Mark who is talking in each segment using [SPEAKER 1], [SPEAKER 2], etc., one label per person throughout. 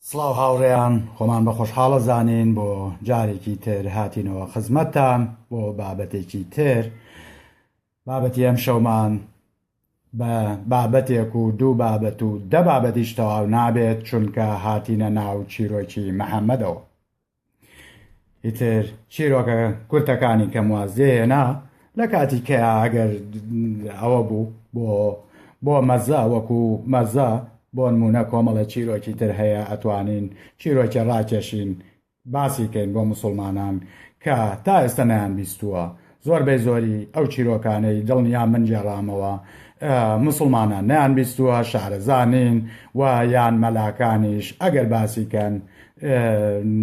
[SPEAKER 1] سڵاو هاوڕێیان خۆمان بە خۆشحاڵە زانین بۆ جارێکی تر هاتینەوە خزمەتتان بۆ بابەتێکی تر بابەتی ئەمشەومان بە بابەتێک و دوو بابەت و دە بابەتیش تەواو نابێت چونکە هاتینە ناو چیرۆکی محەممەدەوە ئیتر چیرۆکە کورتەکانی کەم واز لێهێنا لە کاتی کە ئەگەر ئەوە بوو بۆ بۆ مەزە وەکو مەزە بۆ نمونە کۆمەڵە چیرۆکی تر هەیە ئەتوانین چیرۆکی ڕاکێشین باسی کەین بۆ موسوڵمانان کە تا ئێستا نەیان بیستووە زۆر بەی زۆری ئەو چیرۆکانەی دڵنیا من گێڕامەوە موسوڵمانان نەیان بیستووە شارەزانین و یان مەلاکانیش ئەگەر باسی کەن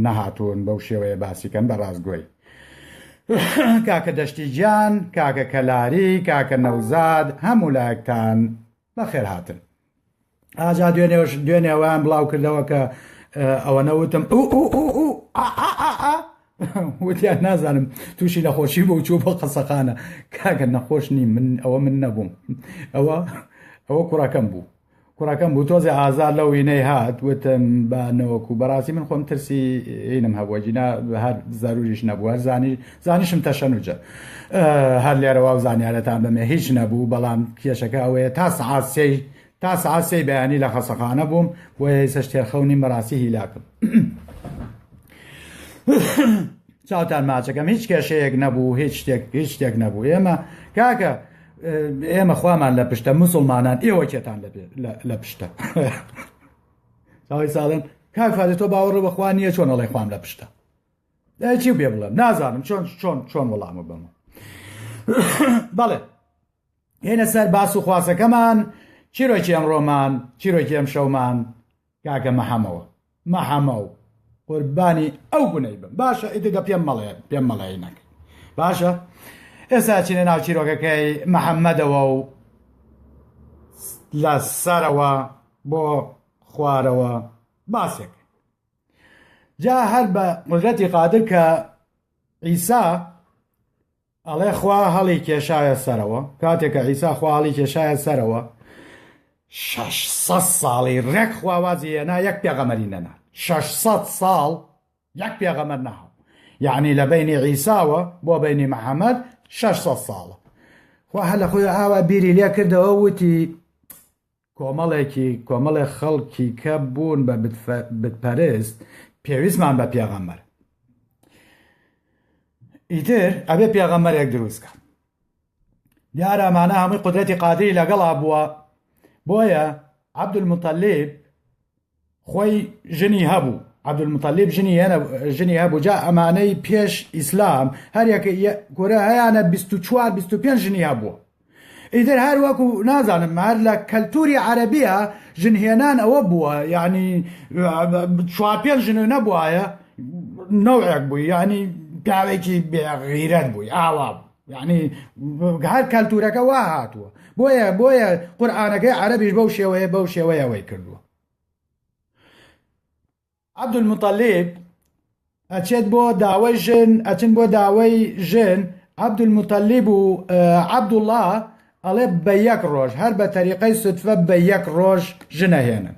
[SPEAKER 1] نەهاتوون بەو شێوەیە باسی کەن بە ڕاستگۆی کاکە دەشتی گیان کاکە کەلاری کاکە نەوزاد هەموو لایەکتان بەخێرهاتن. ئاجا دوێنێش دوێنێ ئەویان بڵاو کردەوە کە ئەوەنە وتم وتیان نازانم تووشی نەخۆشی بۆ چوو بۆ قەسەخانە کاگە نەخۆش نی من ئەوە من نەبووم ئەوە ئەوە کوڕەکەم بوو کوڕەکەم بوو تۆزێ ئازار لە وینەی هات وتم بانەوەکو بەڕاستی من خۆم ترسی ئینم هەبووە جینا هەر زەروریش نەبووە زانی زانیشم تەشەنوجە هەر لێرەوە و زانیارەتان بەمێ هیچ نەبوو بەڵام کێشەکە ئەوەیە تا سەعات سێی تا سەعات سێی بەیانی لە خەسەخانە بووم بۆیە ئێسە شتێرخەونی مەراسی هیلاکم چاوتان ماچەکەم هیچ کێشەیەک نەبوو هیچ شتێک هیچ شتێک نەبوو ئێمە کاکە ئێمە خوامان لە پشتە مسلمانان ئێوە کێتان لە پشتە ساڵن کاک فادە تۆ باوەڕە بەخوا نییە چۆن ئەڵێ خوام لە پشتە چی بێ بڵێم نازانم چۆن چۆن چۆن وەڵامە بەمە بەڵێ هێنە سەر باس و خواسەکەمان چیرۆکی ئەم ڕۆمان چیرۆکی ئەم شەومان کاکە مەحەمەوە مەحەمە و قوربانی ئەو گونەی بم باشە ئیدگە پێم مەڵێ پێم مەڵێ نەک باشە ئێستا چینە ناو چیرۆکەکەی محەممەدەوە و لە سەرەوە بۆ خوارەوە باسێک جا هەر بە قدرەتی قادر کە ئیسا ئەڵێ خوا هەڵی کێشایە سەرەوە کاتێکە ئیسا خوا هەڵی کێشایە سەرەوە 600 ساڵی ڕێک خواوازی هێنا یەک پێغەمەری نەنا 600 ساڵ یەک پێغەمەر ناوە یعنی لە بینی عیساوە بۆ بینی محەممەد 600 ساڵە خوا هە لە خۆی ئاوا بیری لێ کردەوە وتی کۆمەڵێکی کۆمەڵێ خەڵکی کە بوون بە بتپەرست پێویستمان بە پێغەمبەر ئیتر ئەبێ پێغەمبەرێک دروستکە دیارەمانە هەمووی قدرەتی قادری لەگەڵا بووە بۆیە عبدول متەلیب خۆی ژنی هەبوو عبدالمطلب ژنی هێنە ژنی هەبوو جا ئەمانەی پێش ئیسلام هەریەکە گۆرە هەیانە 24 25 ژنی هەبووە ئیتر هەر وەکو نازانم هەر لە کەلتوری عەربیە ژنهێنان ئەوە بووە یعنی چوار پێ ژن نەبواە نەوەک بووی ینی پیاوێکی بێغیرەت بووی ئاوا بوو یعنی هەر کەلتورەکە وا هاتووە بۆیە بۆیە قورآانەکەی عەربیش بەو شێوەیە بەو شێوەیەوەی کردووە عبدمتەلێب ئەچێت بۆ داوای ژن ئەچن بۆ داوای ژن عبدمتەلێب و عبدوڵە ئەڵێ بە یەک ڕۆژ هەر بە تەریقەی سوتفە بە یەک ڕۆژ ژنەهێنن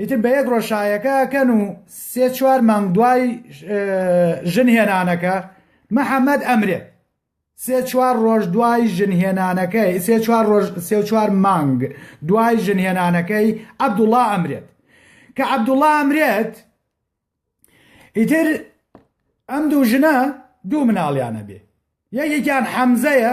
[SPEAKER 1] ئیتر بە یەک ڕۆژ شایەکە ئەکەن و سێ چوار مانگ دوای ژن هێنانەکە محەممەد ئەمرێ سێ چوار ڕۆژ دوای ژن هێنانەکەی سێ چوار ڕۆژ سێ چوار مانگ دوای ژن هێنانەکەی عەبدوڵا ئەمرێت کە عەبدوڵا ئەمرێت ئیتر ئەم دوو ژنە دوو مناڵیانە بێ یەکێکیان حەمزەیە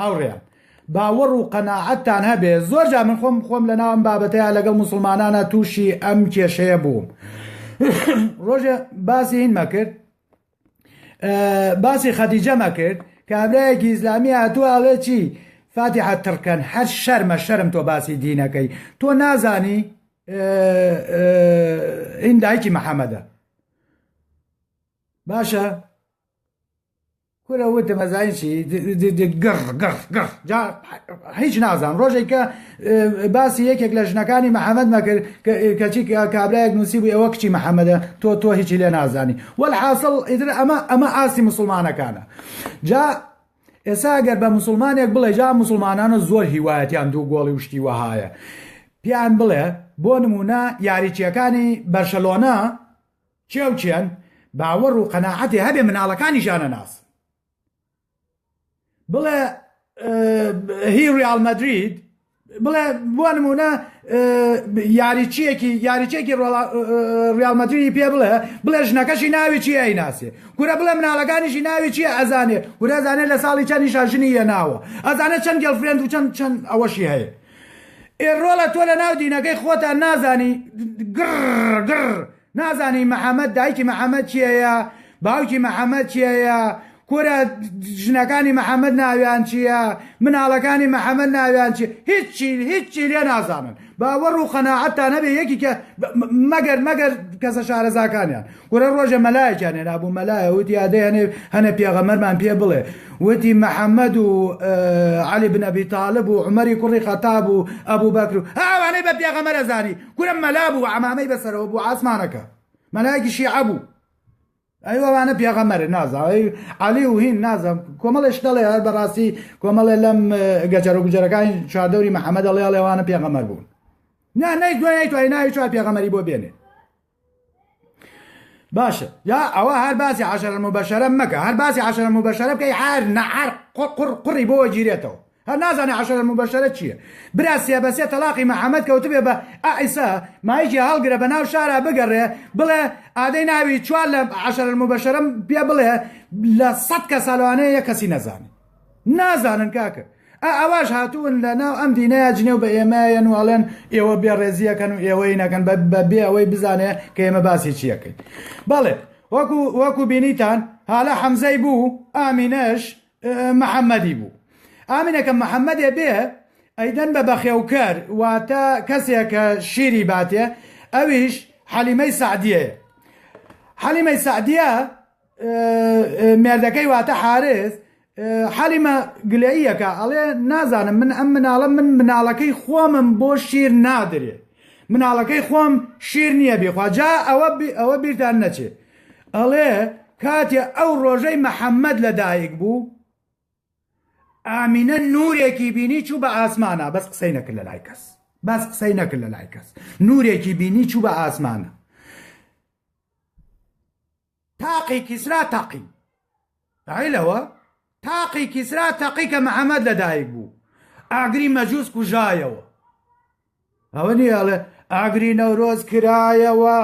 [SPEAKER 1] هاوڕێیان باوەڕ و قەناعەتتان هەبێ زۆر جا من خۆم خۆم لە ناوم بابەتەیە لەگەڵ مسلمانانە تووشی ئەم کێشەیە بووم ڕۆژێ باسی هینمە کرد باسی خەدیجەمە کرد کابراایەکی ئیسلامی هاتووە ئەڵێ چی فاتیحە تڕکەن هەر شەرمە شەرم تۆ باسی دینەکەی تۆ نازانی ئین دایکی محەممەدە باشە کورە وتم ئەزانی چی گڕ گڕ گڕ جا هیچ نازان ڕۆژێک کە باسی یەکێک لە ژنەکانی محەممەد مەکرد کەچی کابراەک نووسی بوو ئەوە کچی محەممەدە تۆ تۆ هیچی لێ نازانی وەل حاصل ئیتر ئەمە ئەمە ئاسی مسلمانەکانە جا ئێسا گەر بە مسلمانێک بڵێ جا مسلمانانە زۆر هیوایەتیان دوو گۆڵی وشتی وەهایە پیان بڵێ بۆ نمونە یاریچیەکانی بەرشەلۆنا کێ و کێن باوەڕ و قەناعەتێ هەبێ مناڵەکانیش ئانەناسن بڵێ هی ریال مەدرید بڵێ بۆ نمونە یاریچیەکی یاریچێکی ریال مەدرری پێ بڵێ بڵێ ژنەکەشی ناوی چی ئەیناسێ کورە بڵێ مناڵەکانیشی ناوی چیە ئەزانێ ورەزانێ لە ساڵی چەند نیشاژنی یە ناوە ئەزانە چەند گەڵفرێند و چەند چەند ئەوەشی هەیە ئێڕۆڵە تۆ لە ناو دینەکەی خۆتان نازانی گڕ گڕ نازانی محمد دایکی محمد کێیە باوکی محمد کێیە کورە ژنەکانی محمد ناویان چییە مناڵەکانی محمد ناویان چی هیچی هیچی لێ نازانن باوەڕ و قەنەعەتتا نەبێ یەکیکە مەگەر مەگەر کەسە شارەزاکانیان کورە ڕۆژە مەلایەکیان هێنا بوو مەلایە وتی یادێ هەنێ هەنە پێغەمەرمان پێ بڵێ وتی محەممەد و علی بنەبی تاالب و عمەری کوڕی خەتاب و ئەبوو بەکر و ئەوانەی بە پێغەمەرە زانی کورە مەلا بوو عەمامەی بەسەرەوە بوو عاسمانەکە مەلایەکی شیعە بوو ئەی وەوانە پێغەمەر نازاوی علی و هین نازم کۆمەڵێش دەڵێ هەر بەڕاستی کۆمەڵێ لەم گەجەرە گوجەرەکانی چواردەوری محەممەد ئەڵێ ئەڵێوانە پێغەمەر بوون نا نەی دوای توای ناوی چوار پێغەمەری بۆ بێنێ باشە یا ئەوە هەر باسی عشرە مبەشەرە مەکە هەر باسی عشرە مبەشەرە بکەی هەر نەعەر قڕ قڕی بۆ گیرێتەوە هەر نازانێ عشرە مبەشەرە چییە برا سێ بەسێ تەلاقی محەممەد کەوتبێ بە ئائیسا مایکی هەڵگرە بە ناو شارە بگەڕێ بڵێ ئادەی ناوی چوار لە عشرە مبەشەرم پێ بڵێ لە سەد کە ساالوانەیە یە کەسی نەزانێت نازانن کاکە ئا ئەواش هاتوون لە ناو ئەم دینەیە جنێو بە ئێمەیەن و ئەڵێن ئێوە بێڕێزیەکەن و ئێوەی نەکەن بە بێ ئەوەی بزانێ کە ئێمە باسی چیەکەین بەڵێ وەکو وەکو بینیتان هالە حەمزەی بوو ئامینەش محەممەدی بوو ئامینەکە محەممەدێ بێ ئەیدەن بە بەخێوکەر واتە کەسێکە شیری باتێ ئەویش حەلیمەی سعدیەیە حەلیمەی سعدیە مێردەکەی واتە حارس حەلیمە گلەییەکە ئەڵێ نازانم من ئەم مناڵە من مناڵەکەی خۆمم بۆ شیر نادرێ مناڵەکەی خۆم شیر نییە بێخوا جا ئەوە ئەوە بیرتان نەچێ ئەڵێ کاتێ ئەو ڕۆژەی محەممەد لەدایک بوو ئامینە نورێکی بینی چوو بە ئاسمانە بەس قسەی نەکرد لە لای کەس بەس قسەی نەکرد لە لای کەس نورێکی بینی چوو بە ئاسمانە تاقی کیسرا تەقی عیلەوە تاقی کیسرا تەقی کە محەممەد لەدایک بوو ئاگری مەجووس کوژایەوە ئەوە نیاڵێ ئاگری نەورۆز کرایەوە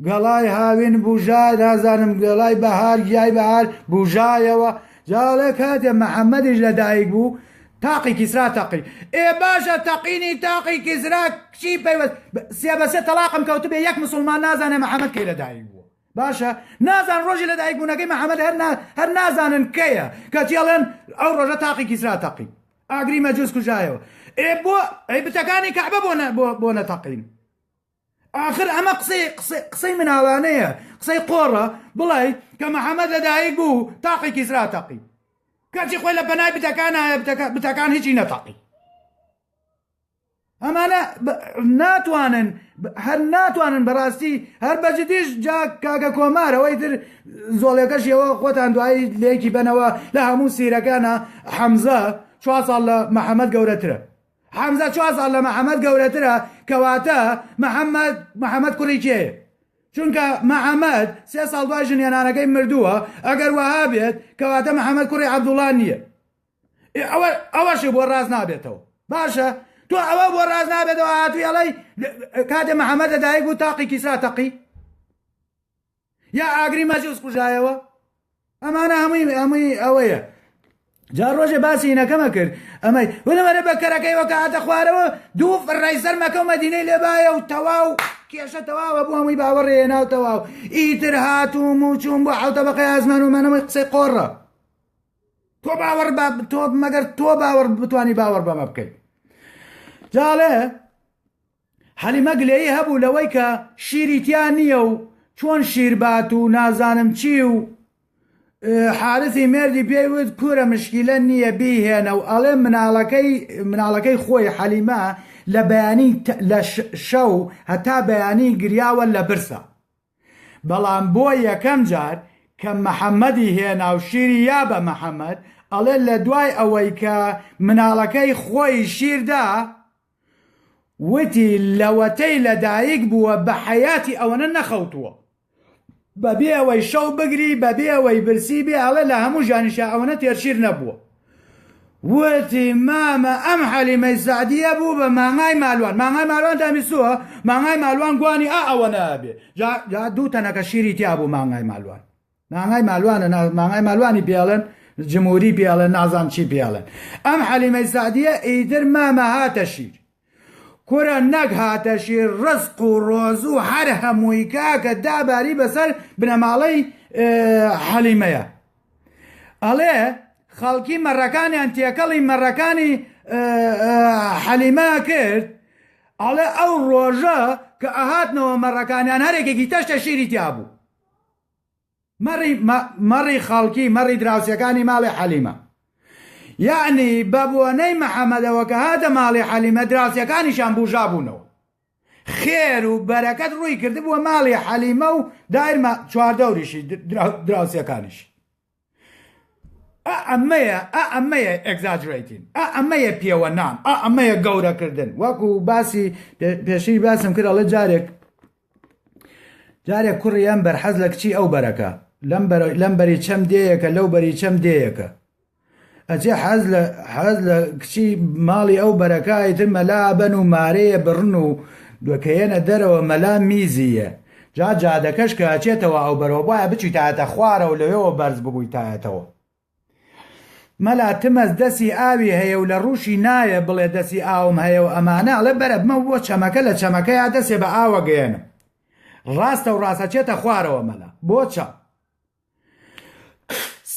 [SPEAKER 1] گەڵای هاوین بژا نازانم گەڵای بەهار گیای بەهار بژایەوە جاڵێ کاتێ محەممەدیش لەدایک بوو تاقی کیسرا تەقی ئێ باشە تەقینی تاقی کیسرا چی پەیوەست سێ بەسێ تەلاقم کەوتبێ یەک مسلمان نازانێ محەممەد کەی لەدایک بوو باشە نازان ڕۆژی لە دایک بوونەکەی محەممەد هەر هەر نازانن کەیە کەچی ئەڵێن ئەو ڕۆژە تاقی کیسرا تەقی ئاگری مەجووس کوژایەوە ئێ بۆ ئەی بتەکانی کەعبە بۆ بۆ نەتەقین آخر ئەمە قسەی قسەی مناڵانەیە قسەی قۆڕە بڵێ کە محەممەد لەدایک بوو تاقی کیسرا تەقی کەچی خۆی لە بەنای بتەکان بتەکان هیچی نەتەقی ئەمانە ناتوانن هەر ناتوانن بەڕاستی هەر بەجدیش جا کاکە کۆمار ئەوەی تر زۆڵێکەش ئەوە خۆتان دوایی لێکی بنەوە لە هەموو سیرەکانە حەمزە چوار ساڵ لە محەممەد گەورەترە حەمزە چوار ساڵ لە محەممەد گەورەترە کەواتە محەممەد محەممەد کوڕی کێ چونکە محەممەد سێ ساڵ دوای ژنێنانەکەی مردووە ئەگەر وەها بێت کەواتە محەممەد کوڕی عەبدوڵان نییە ئێ ئەوە ئەوەشی بۆ ڕاست نابێتەوە باشە تۆ ئەوە بۆ ڕاست نابێتەوە هاتووی ئەڵەی کاتێ محەممەد لە دایک بوو تاقی کیسرا تەقی یا ئاگری مەجوز کوژایەوە ئەمانە هەمووی هەمووی ئەوەیە جا ڕۆژێ باسی هینەکەمە کرد ئەمەی وەرە بە کەرەکەی وەکە هاتە خوارەوە دوو ڕای سەر مەکە و مەدینەی لێبایە و تەواو کێشە تەواوە بۆ هەمووی باوەڕێ ناو تەواو ئیتر هاتووم و چوون بۆ حوتە بەقەی ئازمان و مەنەوەی قسەی قۆڕە تۆ باوەڕ بە تۆ مەگەر تۆ باوەڕ بتانی باوەڕ بەمە بکەیت جاڵێ حەلیمە گلەیی هەبوو لەوەی کە شیری تیا نییە و چۆن شیربات و نازانم چی و حارسی مردی پێی وت کورە مشکیلە نییە بیهێنە و ئەڵێ مناڵەکەی مناڵەکەی خۆی حەلیمە لە بەیانی لە شەو هەتا بەیانی گریاوە لە برسە بەڵام بۆ یەکەم جار کە محمدی هێنا و شیری یا بە محمد ئەڵێ لە دوای ئەوەی کە مناڵەکەی خۆی شیر دا وتی لەوەتەی لە دایک بووە بە حەیاتی ئەوەنە نەخەوتووە بەبێ ئەوەی شەو بگری بەبێ ئەوەی برسی بێ ئەڵێ لە هەموو ژیانیشا ئەوەنە تێر شیر نەبووە. وتی مامە ئەم حەلیمەی سەعدیە بوو بە مانگای مالوان مانگای مالوان دامیسووە مانگای مالوان گوانی ئا ئەوە نابێ جا دوو تەنەکە شیری تیا بوو مانگای مالوان مانگای مالوانە مانگای مالوانی پێڵن جمهوری پێڵێن نازان چی پێڵێن ئەم حەلیمەی سەعدیە ئیتر مامە هاتە شیر کورە نەک هاتەشی ڕزق و ڕۆزو هەر هەمووی کاکە داباری بەسەر بنەماڵەی حەلیمەیە ئەڵێ خەڵکی مەڕەکانیان تێکەڵی مەڕەکانی حەلیمە کرد ئەڵێ ئەو ڕۆژە کە ئەهاتنەوە مەڕەکانیان هەرێکێکی تەشتە شیری تیا بوو مەڕی مەڕی خەڵکی مەڕی دراوسێکانی ماڵی حەلیمە یەعنی بە بۆنەی محەمەدەوە کە هاتە ماڵی حەلیمە دراوسێکانیشان بوژا بوونەوە خێر و بەرەکەت ڕووی کردبووە ماڵی حەلیمە و دایرمە چواردەوریشی دراوسێکانیش ئەمەیە ئەمەیە ئەگزاجرێتین ئەمەیە پێوە نام ئەمەیە گەورەکردن وەکو باسی پێشی باسم کرد ئەڵێ جارێک جارێ کوڕی ئەم بەر حەز لە کچی ئەو بەرەکە لەم بەری چەم دێیەکە لەو بەری چەم دێیەکە ئەجێ حەز لە حەز لە کچی ماڵی ئەو بەرەکە ئیتر مەلا بەن و مارەیە بڕن و دوکەیەنە دەرەوە مەلا میزیە جا جادەکەش کە ئەچێتەوە ئەو بەرەوە بایە بچیتایەتە خوارە و لەوێەوە بەرز ببوویتایەتەوە مەلا تمەز دەسی ئاوی هەیە و لە ڕوشی نایە بڵێ دەسی ئاوم هەیە و ئەمانە ئەڵێ بەرە بمە بۆ چەمەکە لە چەمەکەیا دەسێ بە ئاوە گەیەنم ڕاستە و ڕاستە چێتە خوارەوە مەلا بۆ چەم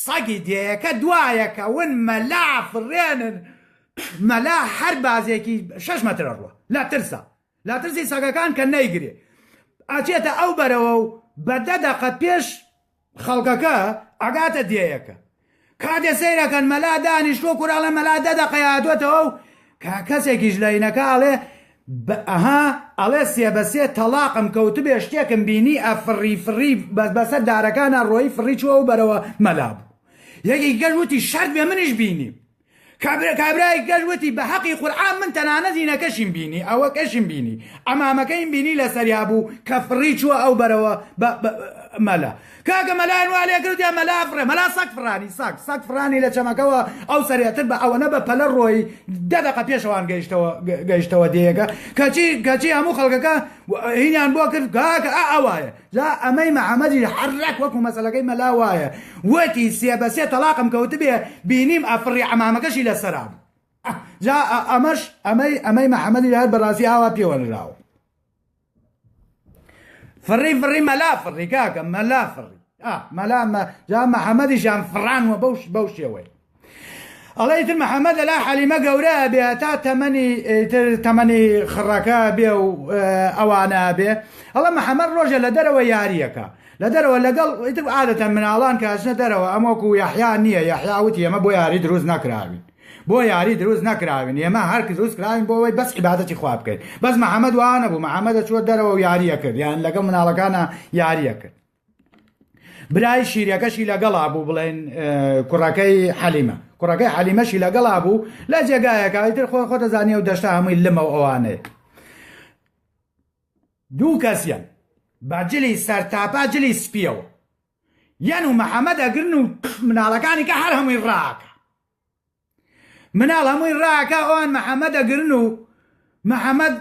[SPEAKER 1] سەگی دێیەکە دوایەکە ون مەلا فڕێنن مەلا هەر بازێکی شش مەترە ڕوە لە ترسە لە ترسی سەگەکان کە نەیگرێ ئاچێتە ئەو بەرەوە و بە دە دەقە پێش خەڵکەکە ئەگاتە دێیەکە کاتێ سەیرەکەن مەلا دانیشتوە کورە ئەڵێ مەلا دە دەقەیە هاتوەتەوە و کەسێکیش لە هینەکە ئەڵێ ئەها ئەڵێ سێ بە سێ تەڵاقم کەوتبێ شتێکم بینی ئەفڕی فڕی بەسەر دارەکانا ڕۆیی فڕی چوەوە بەرەوە مەلا بوو یەکێکی کەش وتی شەرت بێ منیش بینیم کابرا کابرای گەل وتی بە هەقی قورعان من تەنانە زینەکەشیم بینی ئەوەکەشیم بینی ئەمامەکەیم بینی لەسەریا بوو کە فڕی چووە ئەو بەرەوە مەلا کاکە مەلایان وا لێ کردیان مەلا فڕێ مەلا سەگ فڕانی سەگ سەگ فڕانی لە چەمەکەوە ئەو سەرێتر بە ئەوەنە بە پەلە ڕۆی دە دەقە پێشەوان گەیشتەوە گەیشتەوە دێیەکە کەچی کەچی هەموو خەڵکەکە هینیان بۆ کرد کاکە ئا ئەوایە جا ئەمەی محمدیش هەر ڕێک وەکو مەسەلەکەی مەلا وایە وتی سێ بە سێ تەڵاقم کەوتبێ بینیم ئەفڕی عەمامەکەشی لەسەرا بوو جا ئەمەش ئەمەی ئەمەی محمدی هەر بەڕاستی ئاوا پێوە نراوە فڕی فڕی مەلا فڕی کاکە مەلا فڕی مەلا جا محمدیشان فڕانوە بەوش بەو شێوەی ئەڵێ ئیتر محمد لە لای حەلیمە گەورە ئەبێ هەتا تەمەنی ئیتر تەمەنی خڕەکە ئەبێ و ئەوانە ئەبێ ئەڵە محمد ڕۆژە لە دەرەوە یاریەکە لە دەرەوە لەگەڵ ئیتر عادەتەن مناڵان کەچنە دەرەوە ئەمەکو و یحیا نییە یحیا وتی ئەمە بۆ یاری دروست نەکراوین بۆ یاری دروست نەکراوین ئێمە هەر دروست کراوین بۆ ئەوەی بەس عیباەتی خوا بکەین بەس محمد وانە بوو محمد چوە دەرەوە و یاریە کرد یان لەگەڵ مناڵەکانە یاریە کرد برای شیرەکەشی لەگەڵا بوو بڵێن کوڕەکەی حەلیمە کوڕەکەی حەلیمەشی لەگەڵا بوو لە جێگایەکەتر خۆ خۆ دەزانانی و دەشتا هەمووی لەمە ئەوانێت دوو کەسیان باجلی سەر تاپا جلی سپیەوە یان و محەممەد ئەگرن و مناڵەکانی کە هەر هەمووی ڕاکە مناڵ هەمووی ڕاکە ئەوان محەممەد ئەگرن و محەممەد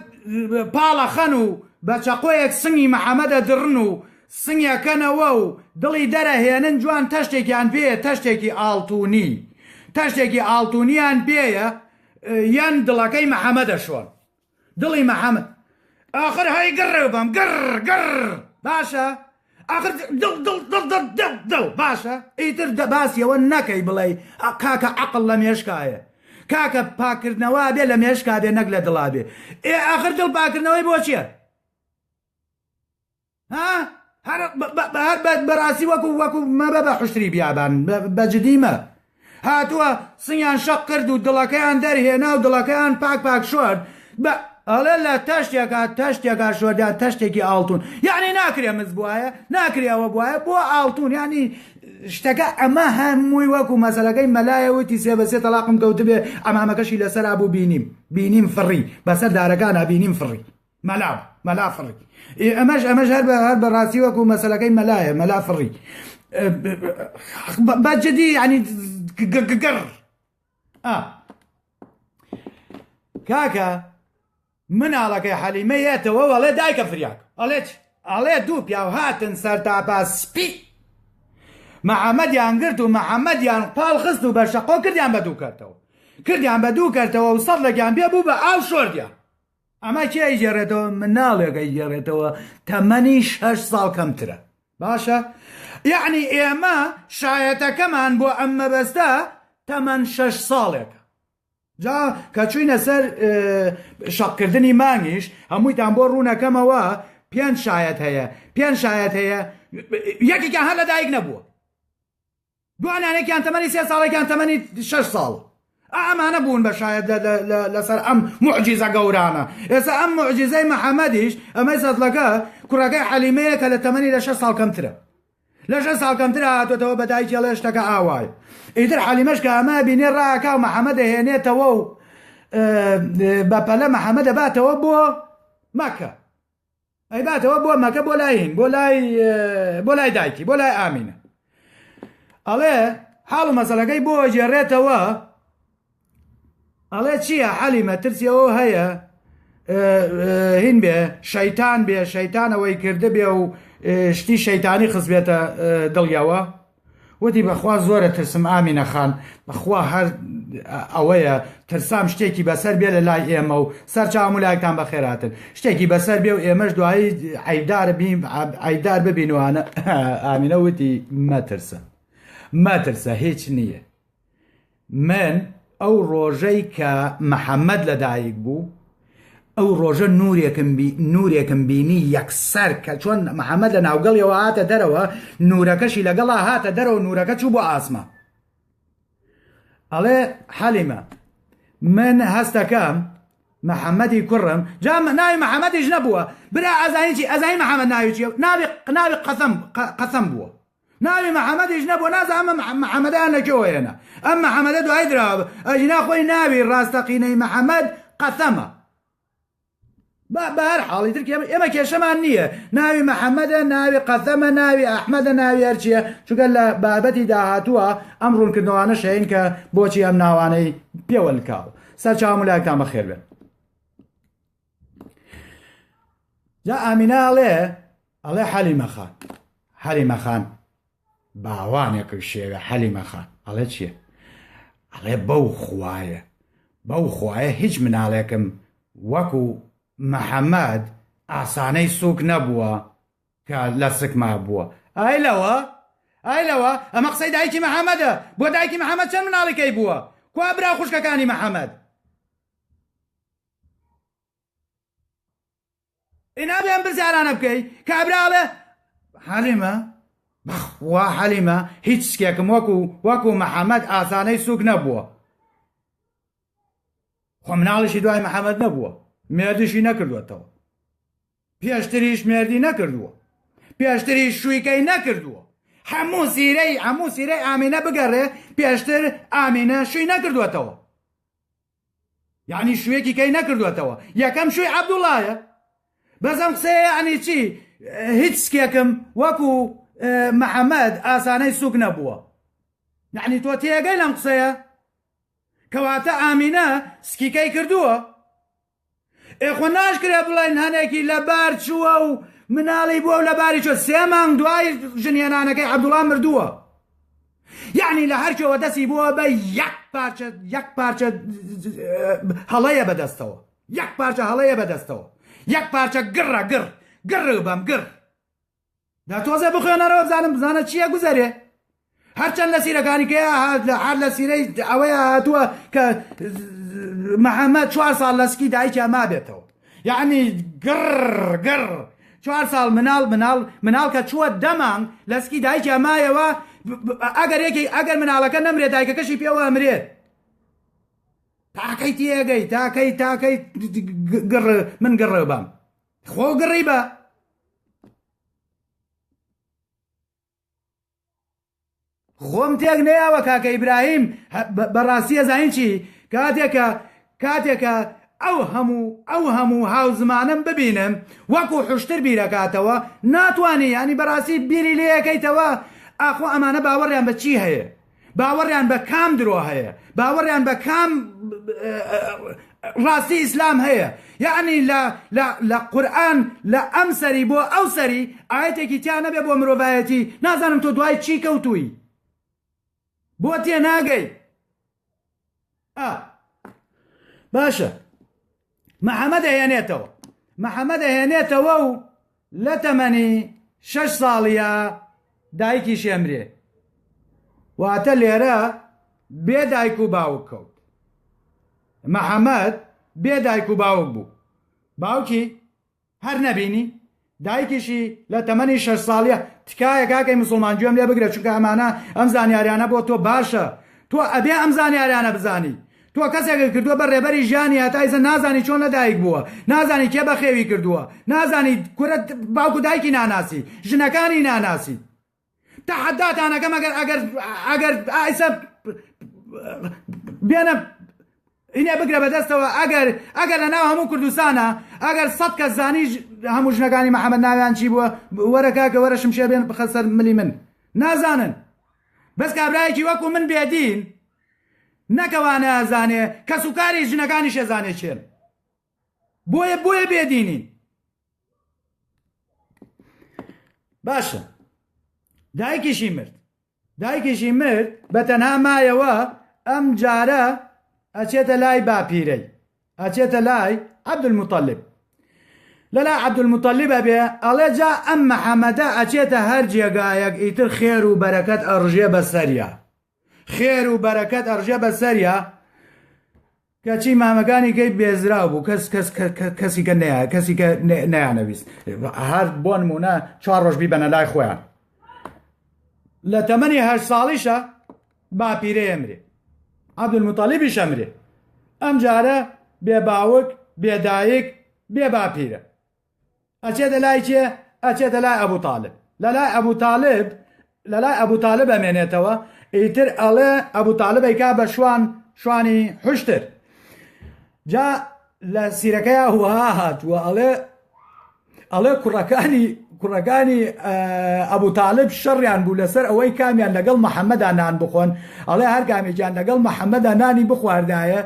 [SPEAKER 1] پاڵە خەن و بە چەقۆیەک سنگی محەممەد ئەدڕن و سنگەکەنەوە و دڵی دەرەهێنن جوان تەشتێکیان پێ تەشتێکی ئاڵتونی تەشتێکی ئاڵتونیان پێیە یان دڵەکەی محەممەدە شۆن دڵی محمد آخر هەی گڕ بم گڕ گڕ باشە آخر دڵ دڵ دڵ دڵ دڵ دڵ باشە ئیتر دەباسیەوە نەکەی بڵێ کاکە عقل لە مێشکایە کاکە پاکردنەوە بێ لە مێشکا بێ نەک لە دڵا بێ ئێ آخر دڵ پاکردنەوەی بۆ چیە ها هەر هەر بەڕاستی وەکو وەکو مەبە بە حشتری بیابان بەجدیمە هاتووە سنگیان شەق کرد و دڵەکەیان دەرهێنا و دڵەکەیان پاک پاک شوارد بە ئەڵێ لە تەشتێکا تەشتێکا شوەردا تەشتێکی ئاڵتون یعنی ناکرێ مز بواە ناکرێ ئەوە بواە بۆ ئاڵتون ینی شتەکە ئەمە هەمووی وەکو مەسەلەکەی مەلایەوەتی سێ بە سێ تەلاقم کەوتبێ ئەمامەکەشی لەسەر بوو بینیم بینیم فڕی بەسەر دارەکان بینیم فڕی مەلا مەلا فڕی ئێ ئەمەش ئەمەش هەر بە هەر بەڕاستی وەکو مەسلەکەی مەلایە مەلا فڕی بەجددی ینی گەگەگەڕ کاکە مناڵەکەی حەلیمە یەتەوە وەڵێ دایکە فریاک ئەڵێت ئەڵێ دوو پیاو هاتن سەر تاپا سپی محەممەدیان گرت و محەممەدیان پاڵ خست و بە شەقۆ کردیان بە دوو کردەوە کردیان بە دوو کردەوە و سەد لەگیان بێ بوو بە ئاو شۆردیان ئەمە کێ ئەیگێڕێتەوە مناڵێک ئەیگێڕێتەوە تەمەنی شەش ساڵ کەمترە باشە یعنی ئێمە شایەتەکەمان بۆ ئەم مەبەستە تەمەەن شەش ساڵێکە جا کە چوینە سەر شەقکردنی مانگیش هەموویتان بۆ ڕوونەکەمەوە پێنج شایەت هەیە پێنج شایەت هەیە یەکێکیان هەر لە دایک نەبووە دوانیانێکیان تەمەنی سێ ساڵ یەکیان تەمەنی شەش ساڵ ئا ئەمانە بوون بە شاید لەسەر ئەم معجیزە گەورانە ئێستا ئەم معجیزەی محەممەدیش ئەمەی سەدلەکە کوڕەکەی حەلیمەیە کە لە تەمەنی لە شەش ساڵ کەمترە لە شەش ساڵ کەمترە هاتۆتەوە بە دایکی ئەڵێ شتەکە ئاوایە ئیتر حەلیمەش کە ئەمە بینێ ڕاکا و محەممە دەهێنێتەوە و بەپەلە محەممە دەباتەوە بۆ مەکە ئەیباتەوە بۆ مەکە بۆ لای هین بۆ لای بۆ لای دایکی بۆ لای ئامینە ئەڵێ حاڵ و مەسەلەکەی بۆ جێڕێتەوە ئەڵێ چییە حەلیمە ترسیەوە هەیە هین بێ شەیتان بێ شەیتانەوەی کردە بێ و شتی شەیتانی خزبێتە دڵیەوە وتی بەخوا زۆرە ترسم ئامینە خان بەخوا هەر ئەوەیە ترسام شتێکی بەسەر بێ لە لای ئێمە و سەرچاو ملایکتان بەخێراتن شتێکی بەسەر بێ و ئێمەش دوایی عیدار بیم عیدار ببینوانە ئامینە وتی مەترسە مەترسە هیچ نییە من ئەو ڕۆژەی کە محەمەد لە دایک بوو ئەو ڕۆژە نورێکم بی نورێکم بینی یەکسەر کە چۆن محەمەد لە ناوگەڵیەوە هاتە دەرەوە نورەکەشی لەگەڵا هاتە دەرەوە نورەکە چوو بۆ ئاسما ئەڵێ حەلیمە من هەستەکەم محەممەدی کوڕم جا ناوی محەممەدیش نەبووە برا ئەزانیی ئەزای محەممەد ناوی چیە ناوی قناوی قەسم قەسم بووە ناوی محمدیش نەبووە نازانم ئەم محمدەیان لە کوێوە هێنا ئەم محمدە دوای دراوە ئەگینا خۆی ناوی ڕاستەقینەی محمد قەسەمە بەهەر حاڵی تر ئێمە کێشەمان نییە ناوی محەممەدە ناوی قەسەمە ناوی ئەحمەدە ناوی هەرچیە چگە لە بابەتی داهاتووە ئەم ڕوونکردنەوانە شەین کە بۆچی ئەم ناوانەی پێوەلکاو سەرچاو ملایکتان بەخێر بێن جا ئامینە ئەڵێ ئەڵێ حەلیمە خان حەلیمە خان باوانێکم شێوێ حەلیمە خان ئەڵێ چییە ئەڵێ بەو خوایە بەو خوایە هیچ مناڵێکم وەکو محەممەد ئاسانەی سوک نەبووە کە لە سکما بووە ئای لەوە ئای لەوە ئەمە قسەی دایکی محەممەدە بۆ دایکی محەممەد چەند مناڵەکەی بووە کوا برا خوشکەکانی محەممەد ئینا بێم پرسیارانە بکەی کابرا ئەڵێ حەلیمە بەخوا حەلیمە هیچ سکێکم وەکو وەکو محەممەد ئاسانەی سوک نەبووە خۆ مناڵیشی دوای محەممەد نەبووە مێردیشی نەکردوێتەوە پێشتریش مێردی نەکردووە پێشتری شوویکەی نەکردووە هەموو زیرەی هەموو زیرەی ئامینە بگەڕێ پێشتر ئامینە شووی نەکردوێتەوە یعنی شوێکی کەی نەکردوێتەوە یەکەم شوی عبدوڵایە بەزەم قسەیە عنی چی هیچ سکێکم وەکو محەممەد ئاسانەی سوک نەبووە یعنی تۆ تێگەی لەم قسەیە کەواتە ئامینە سکیکەی کردووە ئێ خۆ ناشکرێ بڵێن هەنێکی لەبار چووە و مناڵی بووە و لەباری چۆ سێ مانگ دوای ژنهێنانەکەی عەبدوڵا مردووە یعنی لە هەرکەوە دەسی بووە بە یەک پارچە یەک پارچە هەڵەیە بەدەستەوە یەک پارچە هەڵەیە بەدەستەوە یەک پارچە گڕە گڕ گڕ بەم گڕ دا تۆزێ بخوێنەرەوە بزانم بزانە چییە گوزەرێ هەرچەند لە سیرەکانی کە هات لە حال لە سیرەی ئەوەیە هاتووە کە محەممەد چوار ساڵ لەسکی دایکیا ما بێتەوە یعنی گڕ گڕ چوار ساڵ مناڵ مناڵ مناڵ کە چووە دەمان لەسکی دایکیا مایەوە ئەگەر یەکی ئەگەر مناڵەکە نەمرێت دایکەکەشی پێوە ئەمرێت تاکەی تێگەی تاکەی تاکەی گڕ من گڕێ بام خۆگڕی بە خۆم تێک نەیاوە کاکە ئیبراهیم بەڕاستیە زانین چی کاتێکە کاتێکە ئەو هەموو ئەو هەموو هاو زمانم ببینم وەکو حشتر بیرەکاتەوە ناتوانانی ینی بەڕاستی بیری لەکەیتەوە ئاخۆ ئەمانە باوەڕیان بە چی هەیە باوەڕیان بە کام درۆ هەیە باوەڕیان بە کام ڕاستی ئیسلام هەیە یعنی لە قورآن لە ئەم سەری بۆ ئەو سەری ئاەتێکی تیا نەبێ بۆ مرۆڤایەتی نازانم تۆ دوای چی کەوتووی بۆ تێ ناگەی باشە محەممەد ئەهێنێتەوە محەممەد ئەهێنێتەوە و لە تەمەنی شەش ساڵیە دایکی شێمرێ واتە لێرە بێ دایک و باوک کەوت محەممەد بێ دایک و باوک بوو باوکی هەر نەبینی دایکیشی لە تەمەنی شەش ساڵیە تکایە کاکەی مسوڵمان گوێم لێ بگرە چونکە ئەمانە ئەم زانیاریانە بۆ تۆ باشە تۆ ئەبێ ئەم زانیاریانە بزانی تۆ کەسێکت کردووە بە ڕێبەری ژیانی هەتایزە نازانی چۆن لەدایک بووە نازانی کێ بەخێوی کردووە نازانی کورە باوکو دایکی ناناسی ژنەکانی ناناسی تەحەداتان ئەکەم ئەگەر ئەگەر ئەگەر ئایسە بێنە ئینێ بگرە بەدەستەوە ئەگەر ئەگەر لە ناو هەموو کوردستانە ئەگەر سەد کە زانیش هەموو ژنەکانی محەممەد ناویان چی بووە وەرەکەکە وەرە شمشێ بێن بخە سەر ملی من نازانن بەس کابراایکی وەکو من بێدین نەکەوانە زانێ کەس و کاری ژنەکانی شێزانێ چێن بۆیە بۆیە بێدینین باشە دایکیشی مرد دایکیشی مرد بە تەنها مایەوە ئەم جارە ئەچێتە لای باپیرەی ئەچێتە لای عەبدمطلب لەلا عەبدمطلب ئەبێ ئەڵێ جا ئەم محەممەدە ئەچێتە هەر جێگایەک ئیتر خێر و بەرەکەت ئەڕژێ بە سەریا خێر و بەرەکەت ئەڕژێ بە سەریا کەچی مامەکانی کەی بێزراو بوو کەس کەس کەسیکە نەیە کەسیکە نەیانەویست هەر بۆ نمونە چوار ڕۆژ بیبەنە لای خۆیان لە تەمەنی هەر ساڵیشە باپیرە ئەمرێ عبدمتالیبی شەمرێ ئەم جارە بێ باوک بێدایک بێ باپیرە ئەچێ دەلای کێ ئەچێ دەلای ئەبوو تاالب لەلای ئەبوو تاالب لەلای ئەبوو تاالب ئەمێنێتەوە ئیتر ئەڵێ ئەبوو تاالبی کا بە شوان شوانی حشتر جا لە سیرەکەی هوها هاتووە ئەڵێ ئەڵێ کوڕەکانی کوڕەکانی ئەبوو تاالب شەڕیان بوو لەسەر ئەوەی کامیان لەگەڵ محەممەدا نان بخۆن ئەڵێ هەر کامێکیان لەگەڵ محەممەدا نانی بخواردایە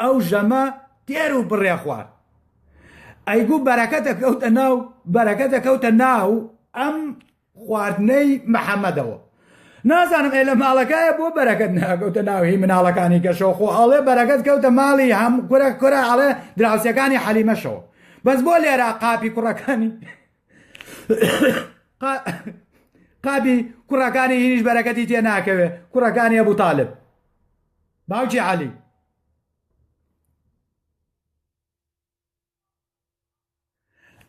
[SPEAKER 1] ئەو ژەمە تێر و بڕێ خوارد ئەیگو بەرەکەتە کەوتە ناو بەرەکەتە کەوتە ناو ئەم خواردنەی محەممەدەوە نازانم ئێ لە ماڵەکایە بۆ بەرەکەت ناکەوتە ناوهی مناڵەکانی کەشەوە خۆ ئەڵێ بەرەکەت کەوتە ماڵی هەم کورە کورە ئەڵێ دراوسەکانی حەلیمەشەوە بەس بۆ لێرا قاپی کوڕەکانی قابی کوڕەکانی هیریش بەرەکەتی تێ ناکەوێ کوڕەکانی ئەبوو تاالب باوکی عالی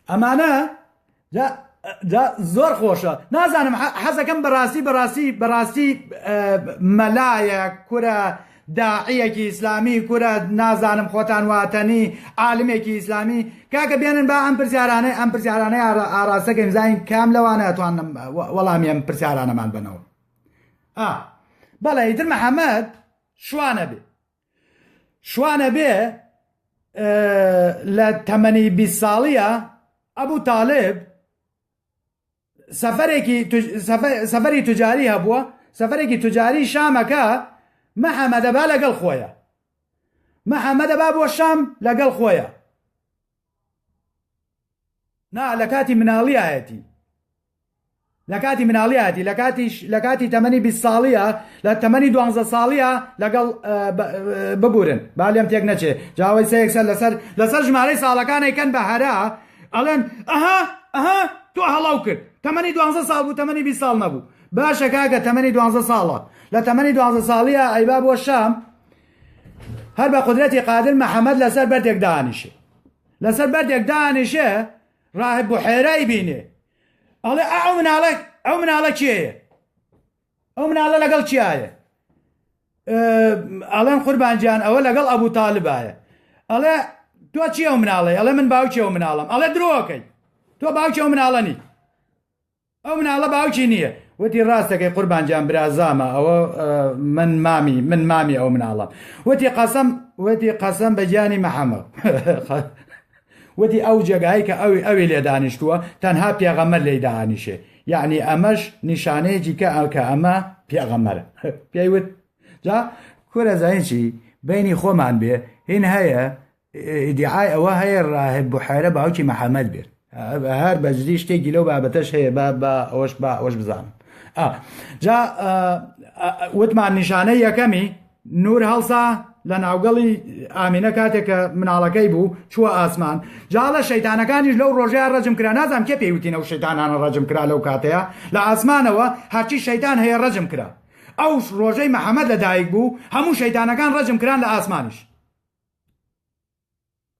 [SPEAKER 1] ئەمانە جا زۆر خۆشە نازانم حەزەکەم بەڕاستی بەڕاستی بەڕاستی مەلایە کورە داعیەکی ئیسلامی کورە نازانم خۆتان واتەنی عالمێکی ئیسلامی کاکە بێنن با ئەم پرسیارانەی ئەم پرسیارانەی ئاراستەکەم زین کام لەوانە توانم وەڵامی ئەم پرسیارانەمان بنەوە بەڵێ ئیتر محەممەد شوانە بێ شوان ئەبێ لە تەمەنی بی ساڵیە ئەبوو تاالب سەفەرێکی سەفەری تجاری هەبووە سەفەرێکی تجاری شامەکە محەممەدەبا لەگەڵ خۆیە محەممەدەبا بۆ شام لەگەڵ خۆیە نا لەکاتی مناڵیایەتی لەکاتی مناڵیاتی لەکاتیش لەکاتی تەمەنی بی ساڵیە لە تەمەنی دوانزە ساڵیە لەگەڵ ببورن با لێم تێک نەچێ جاوەی سەیەکسەر لەسەر لەسەر ژمارەی ساڵەکانی کەن بە هەرا ئەڵێن ئەها ئەها تو هەڵاو کرد تەمەنی دوانزە ساڵ بوو تەمەنی بی ساڵ نەبوو باشە کاکە تەمەنی دوانزە ساڵە لە تەمەنی دوانزە ساڵیە ئەیبا بۆ شام هەر بە قودرەتی قادر محەمەد لەسەر بەردێک دانیشێ لەسەر بەردێک دانیشێ ڕاهب بحێرای بینێ ئەڵێ ئەو مناڵە ئەو مناڵە کێیە ئەو مناڵە لەگەڵ کیایە ئەڵێن قوربانجیان ئەوە لەگەڵ ئەبوو تاالبایە ئەڵێ تۆ چی ئەو مناڵی ئەڵێ من باوکی ئەو مناڵم ئەڵێ درۆکەی تۆ باوکی ئەو مناڵەنی ئەو مناڵە باوکی نیە. وتی ڕاست دەکەی قوربان گیان برازامە ئەوە من مامی من مامی ئەو مناڵەم وتی قەسەم وتی قەسەم بە گیانی محەمەد وتی ئەو جێگایی کە ئەوی ئەوی لێ دانیشتووە تەنها پێغەمەر لێی داهانیشێ یعنی ئەمەش نیشانەیەکی کە ئەو کە ئەمە پێغەمەرە پێیوت جا کورە زانین چی بینی خۆمان بێ هین هەیە ئیدیعای ئەوە هەیە ڕاهب بحێرە باوکی محەمەد بێت هەر بەجدی شتێکی لەو بابەتەش هەیە با با ئەوەش با ئەوەش بزانم جا وتمان نیشانە یەکەمی نور هەڵسا لە ناوگەڵی ئامینە کاتێک کە مناڵەکەی بوو چووە ئاسمان جاڵە شەیتانەکانیش لەو ڕۆژەیە ڕەجم کرا نازانام کێ پێیوتینە و شەیتانانە ڕەجم کرا لەو کاتەیە لە ئاسمانەوە هەرچی شەیتان هەیە ڕەجم کرا ئەو ڕۆژەی محەممەد لە دایک بوو هەموو شەیتانەکان ڕەجم کران لە ئاسمانیش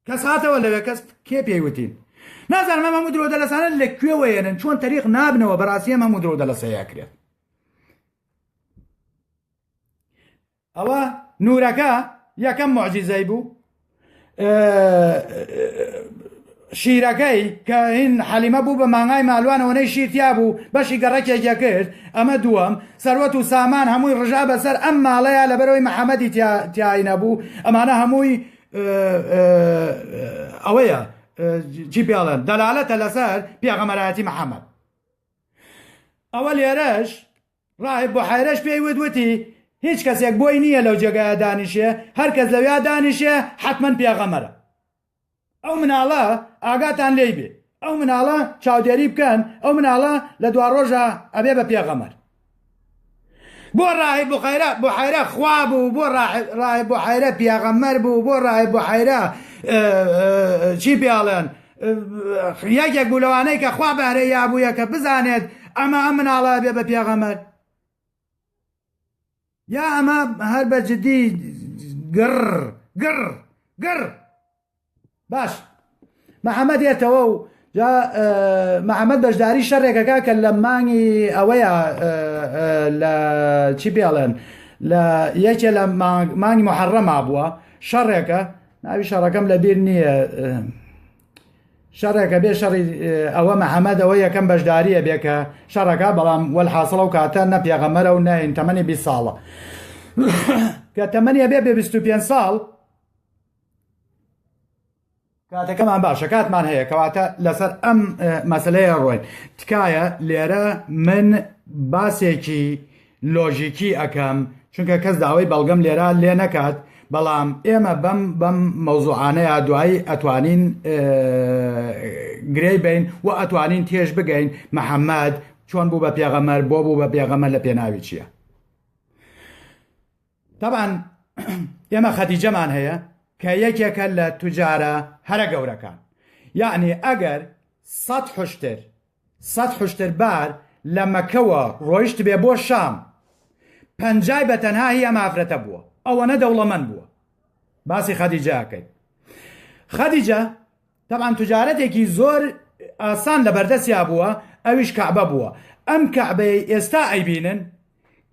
[SPEAKER 1] کەس هاتەوە لەوێ کەس کێ پێی وتین نازانم ئەم هەموو درۆدە لەسانە لە کوێوەیەنن چۆن تەریق نابنەوە بەڕاستی ئەم هەموو درۆدە لەسەیە کرێت ئەوە نورەکە یەکەم معجیزەی بوو شیرەکەی کە هین حەلیمە بوو بە مانگای مالوان ئەوەنەی شیر تیا بوو بەشی گەڕەکێک یەکرد ئەمە دووەم سەروەت و سامان هەمووی ڕژا بەسەر ئەم ماڵەیا لەبەرەوەی محمدی تیا تیای نەبوو ئەمانە هەمووی ئەوەیە چی پێڵێن دەلالەتە لەسەر پێغەمەرایەتی محمد ئەوە لێرەش ڕاهب بۆ حەیرەش پێی وت وتی هیچ کەسێک بۆی نییە لەو جێگایە دانیشێ هەر کەس لەویا دانیشێ حتمما پێغەمەرە ئەو مناڵە ئاگاتان لێی بێ ئەو مناڵە چاودێری بکەن ئەو مناڵە لە دوا ڕۆژە ئەبێ بە پێغەمەر بۆ ڕاهب بۆ خەیرە بۆ حەیرە خوا بوو بۆ ڕاهب بۆ حەیرە پیاغەمەر بوو بۆ ڕاهب بۆ حەیرە چی پیاڵێن یەکێک بوو لەوانەی کە خوا بەهرە یابووە کە بزانێت ئەمە ئەم مناڵە بێ بە پیاغەمەر یا ئەمە هەر بە جدی گڕ گڕ گڕ باش محەممەد دێتەوە و جا محەممەد بەشداری شەڕێکەکە کە لە مانگی ئەوەیە لە چی پێڵێن لە یەکێ لە مانگی محەڕەما بووە شەڕێکە ناوی شەڕەکەم لە بیر نییە شەڕێکە بێ شەڕی ئەوە محەممەد ئەوە یەکەم بەشداریە بێ کە شەڕەکە بەڵام وەل حاصڵە و کاتە نە پێغەمەرە و ناین تەمەنی بی ساڵە کە تەمەنی بێ بێ 25 ساڵ کاتەکەمان باشە کاتمان هەیە کەواتە لەسەر ئەم مەسلەیە ڕۆین تکایە لێرە من باسێکی لۆژیکی ئەکەم چونکە کەس داوای بەڵگەم لێرا لێ نەکات بەڵام ئێمە بەم بەم مەوزوعانەیە دوایی ئەتوانین گرێی بین و ئەتوانین تێش بگەین محەممەد چۆن بوو بە پێغەمەر بۆ بوو بە پێغەمە لە پێناوی چییە تەبان ئێمە خەتیجەمان هەیە کە یەکێکە لە توجارە هەرە گەورەکان یعنی ئەگەر سەد حشتر سەد حوشتر بار لە مەکەوە ڕۆیشتبێ بۆ شام پەنجای بە تەنها هی ئەم ئافرەتە بووە ئەوەنە دەوڵەمەند بووە باسی خەدیجە ئەکەیت خەدیجە تەبان تجارەتێکی زۆر ئاسان لە بەردەستیا بووە ئەویش کەعبە بووە ئەم کەعبەی ئێستا ئەیبینن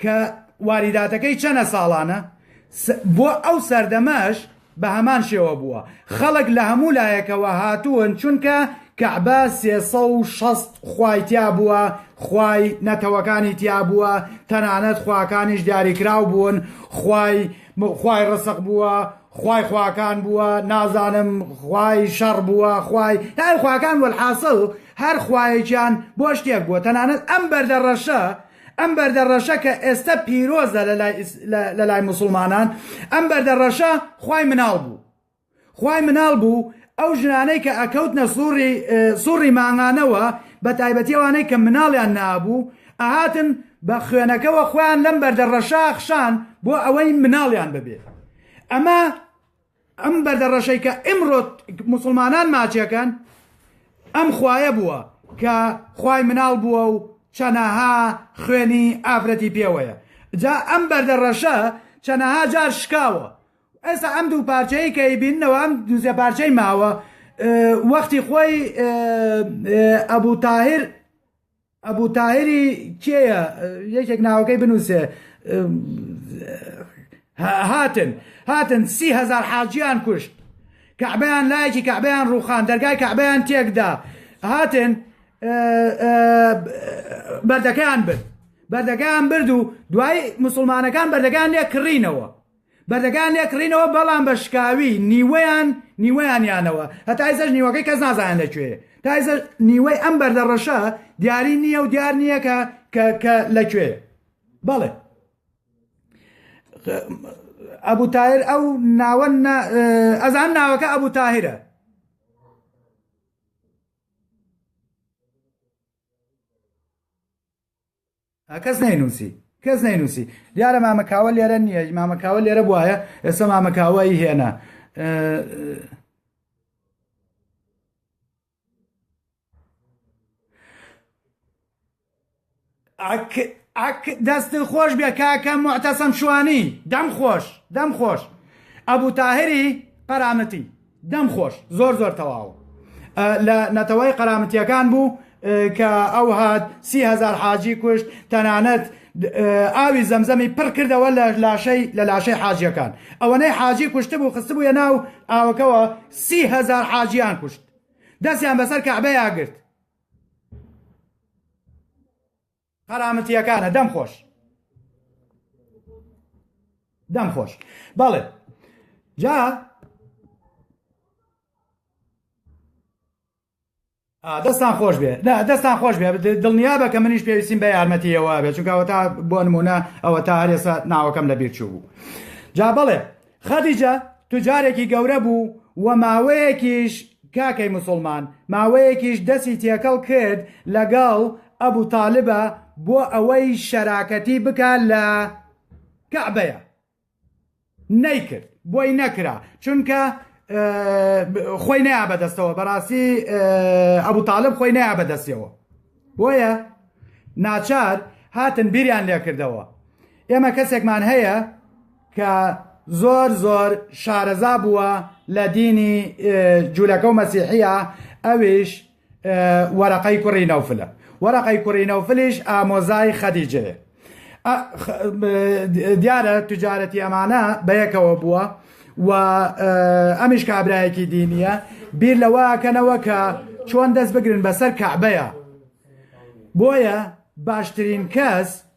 [SPEAKER 1] کە واریداتەکەی چەنە ساڵانە بۆ ئەو سەردەمەش بە هەمان شێوە بووە خەڵک لە هەموو لایەکەوە هاتوون چونکە کەعبە سێسە و شەست خوای تیا بووە خوای نەتەوەکانی تیا بووە تەنانەت خواکانیش دیاریکراو بوون خوای خوای ڕسق بووە خوای خواکان بووە نازانم خوای شەڕ بووە خوای هەر خواکان وەحاصل هەر خوایەکیان بۆ شتێک بووە تەنانەت ئەم بەردە ڕەشە ئەم بەردە ڕەشە کە ئێستە پیرۆزە لە لای موسڵمانان، ئەم بەردە ڕەشە خوای مناڵ بوو. خوای مناڵ بوو ئەو ژنانەی کە ئەکەوتنە سوڕی سوڕی مانگانەوە بە تایبەتی ئەوانەی کە مناڵیان نەبوو ئەهاتن بە خوێنەکەوە خۆیان لەم بەردە ڕەشە ئەخشان بۆ ئەوەی مناڵیان ببێ. ئەمە ئەم بەردە ڕەشەی کە ئمڕۆ موسڵمانان ماچەکەن ئەم خوایە بووە کە خوای مناڵ بووە و چەنەها خوێنی ئافرەتی پێوەیە جا ئەم بەردە ڕەشە چەنەها جار شکاوە ئێسا ئەم دوو پارچەیە کە بینەوە ئەم دوزە پارچەی ماوە وەختی خۆی ئەبوو تاهر ئەبو تاهیری کێیە یەکێک ناوەکەی بنووسێ هاتن هاتن سی هزار حاجیان کوشت کەعبیان لایەکی کەعبیان ڕوخان دەرگای کەعبیان تێکدا هاتن بەردەکەیان برد بەردەکەیان برد و دوای مسلمانەکان بەردەکان لێ کڕینەوە بەردەکەیان لێ کڕینەوە بەڵام بە شکاوی نیوەیان نیوەیان یانەوە هەتا ئیسەش نیوەکەی کەس نازانێت لە کوێ تا ئیسە نیوەی ئەم بەردە ڕەشە دیاری نییە و دیار نییە کە کە کە لە کوێ بەڵێ ئەبوو تایر ئەو ناوە ئەزان ناوەکە ئەبوو تاهرە کەس نەینووسی کەس نەینووسی دیارە مامە کاوە لێرە نییە مامە کاوە لێرە بواە ئێستا مامە کاوەی هێنا ئەک دەست خۆش بێ کاکە معتەسەم شوانی دەم خۆش دەم خۆش ئەبوو تاهری قەرامەتی دەم خۆش زۆر زۆر تەواو لە نەتەوەی قەرامەتیەکان بوو کە ئەو هات سی هزار حاجی کوشت تەنانەت ئاوی زەمزەمی پڕ کردەوە لە لاشەی لە لاشەی حاجیەکان ئەوەنەی حاجی کوشت بوو خست بووە ناو ئاوەکەەوە سی هزار حاجیان کوشت دەستیان بەسەر کەعبەیە گرت قەرامتیەکانە دەم خۆش دەم خۆش بەڵێ جا دەستان خۆش بێ دەستان خۆش بێ دڵنیا بە کە منیش پێویستیم بە یارمەتیەوە بێ چونکەوە تا بۆ نمونە ئەوە تا هەرێسا ناوەکەم لە بیر چوو بوو جا بڵێ خەدیجە توجارێکی گەورە بوو و ماوەیەکیش کاکەی مسوڵمان ماوەیەکیش دەسی تێکەڵ کرد لەگەڵ ئەبو تالبە بۆ ئەوەی شەراکەتی بکا لە کەعبەیە نەیکرد بۆی نەکرا چونکە خۆی نەیا بەدەستەوە بەڕاستی ئەبو تالب خۆی نەیا بەدەستەوە بۆیە ناچار هاتن بیریان لێکردەوە ئێمە کەسێکمان هەیە کە زۆر زۆر شارەزا بووە لە دینی جوولەکە و مەسیحییە ئەویش وەرەقەی کوڕی نەوفلە وەرەقەی کوڕی نەوفلیش ئامۆزای خەدیجەیە دیارە تجارەتی ئەمانە بەیەکەوە بووە و ئەمیش کابراایەکی دینیە بیر لەوەکەنەوە کە چۆن دەست بگرن بەسەر کەعبەیە بۆیە باشترین کەس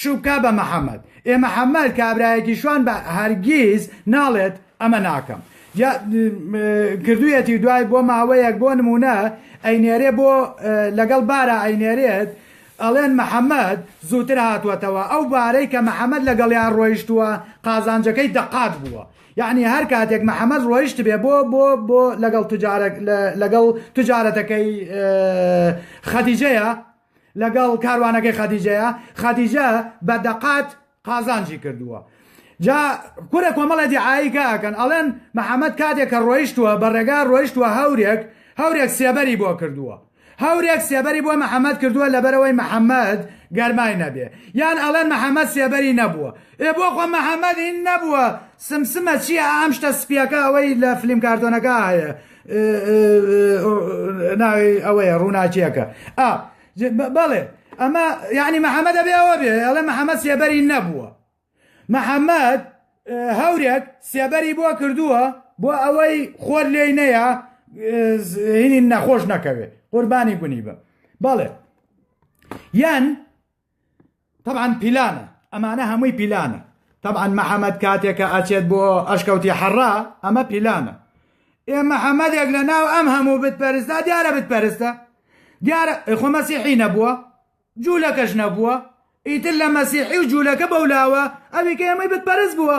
[SPEAKER 1] شوکا بە محمد ئێ محمد کابرایەکی شوان بە هەرگیز ناڵێت ئەمە ناکەم یا کردویەتی دوای بۆ ماوەیەک بۆ نمونە ئەینێرێ بۆ لەگەڵ بارا ئەینێرێت ئەڵێن محمد زووتر هاتوەتەوە ئەو بارەی کە محمد لەگەڵیان ڕۆیشتووە قازانجەکەی دەقات بووە یعنی هەر کاتێک محمد ڕۆیشت بێ بۆ بۆ بۆ لەگەڵ تجارە لەگەڵ تجارەتەکەی خەدیجەیە لەگەڵ کاروانەکەی خەدیجەیە خەدیجە بە دەقات قازانجی کردووە جا کورە کۆمەڵە دیعاییکە ئەکەن ئەڵێن محەممەد کاتێک کە ڕۆیشتووە بە ڕێگا ڕۆیشتووە هەورێک هەورێک سێبەری بۆ کردووە هەورێک سێبەری بۆ محەممەد کردووە لەبەرەوەی محەممەد گەرمای نەبێ یان ئەڵێن محەممەد سێبەری نەبووە ئێ بۆ خۆ محەممەدی نەبووە سمسمە چییە ئەم شتە سپیەکە ئەوەی لە فلیم کارتۆنەکە هەیە ناوی ئەوەیە ڕووناکیەکە ئا بەڵێ ئەمە یعنی محەممەدە بێەوە بێ ئەڵێ محەممەد سێبەری نەبووە محەممەد هەورێک سێبەری بۆ کردووە بۆ ئەوەی خۆر لێی نەیە هینی نەخۆش نەکەوێ قوربانی گونی بە بەڵێ یان تەبعەن پیلانە ئەمانە هەمووی پیلانە تەبعەن محەممەد کاتێکە ئەچێت بۆ ئەشکەوتی حەڕا ئەمە پیلانە ئێ محەممەدێک لە ناو ئەم هەموو بتپەرستا دیارە بتپەرستە دیارە خۆ مەسیحی نەبووە جوولەکەش نەبووە ئیتر لە مەسیحی و جوولەکە بەولاوە ئەوی کە ئێمەی بتپەرست بووە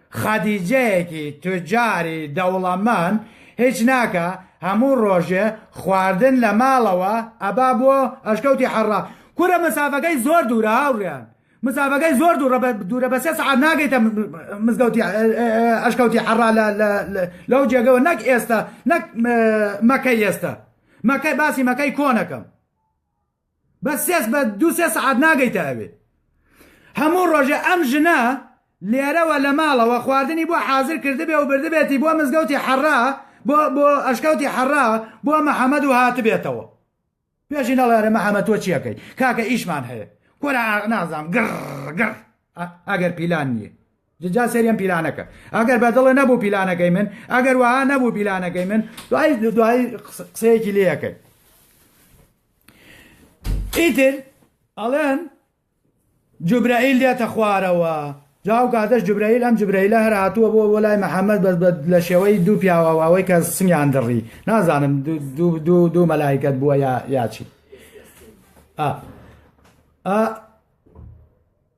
[SPEAKER 1] خەدیجەیەکی توجاری دەوڵەمەند هیچ ناکا هەموو ڕۆژێ خواردن لە ماڵەوە ئەبا بۆ ئەشکەوتی حەڕا کورە مەسافەکەی زۆر دوورە هاوڕێیان مەسافەکەی زۆر دوورە دوورە بە سێ سەعات ناگەیتە مزگەوتی ئەشکەوتی حەڕا لەو جێگەوە نەک ئێستا نەک مەکە ئێستا مەکە باسی مەکەی کۆنەکەم بە سێ بە دوو سێ سەعات ناگەیتە ئەوێ هەموو ڕۆژێ ئەم ژنە لێرەوە لە ماڵەوە خواردنی بۆ حازر کردبێ و بردبێتی بۆ مزگەوتی حەڕا بۆ بۆ ئەشکەوتی حەڕا بۆ محەممەد و هاتبێتەوە پێشی نەڵێرە محەممەد تۆ چیەکەی کاکە ئیشمان هەیە کۆرە نازام گڕ گڕ ئەگەر پیلان نییە جا سەیرم پیلانەکە ئەگەر بەدڵە نەبوو پیلانەکەی من ئەگەر وەها نەبوو پیلانەکەی من دوای دوای قسەیەکی لەکەن ئیتر ئەڵێن جوبرائیل دێتە خوارەوە جاو کاتەش جوبرائیل ئەم جوبرائیلە هەر هاتووە بۆ وەلای محەممەد بەس لە شێوەی دوو پیاوەواوەی کە سنگیان دڕی نازانم دوو مەلایکت بووە یاچی ئا ئا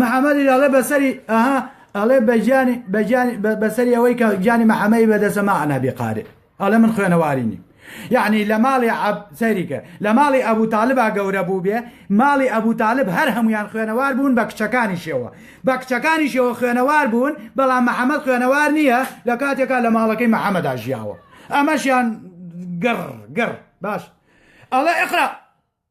[SPEAKER 1] محمدی دەڵێ بەسەری ئەها ئەڵێ بەجانی بەجانی بەسەری ئەوەی کە جانی محەمەی بەدەسە ما ئەنابی قارێ ئەڵێ من خوێنەوارینی یعنی لە ماڵی سەریکە لە ماڵی ئەبوو تالبا گەورە بوو بێ ماڵی ئەبوو تالب هەر هەمویان خوێنەوار بوون بە کچەکانی شێوە بە کچەکانی شێوە خوێنەوار بوون بەڵام محەممەد خوێنەوار نییە لە کاتێکا لە ماڵەکەی محەممەدا ژیاوە ئەمەشیان گڕ گڕ باش ئەڵێ ئەقرا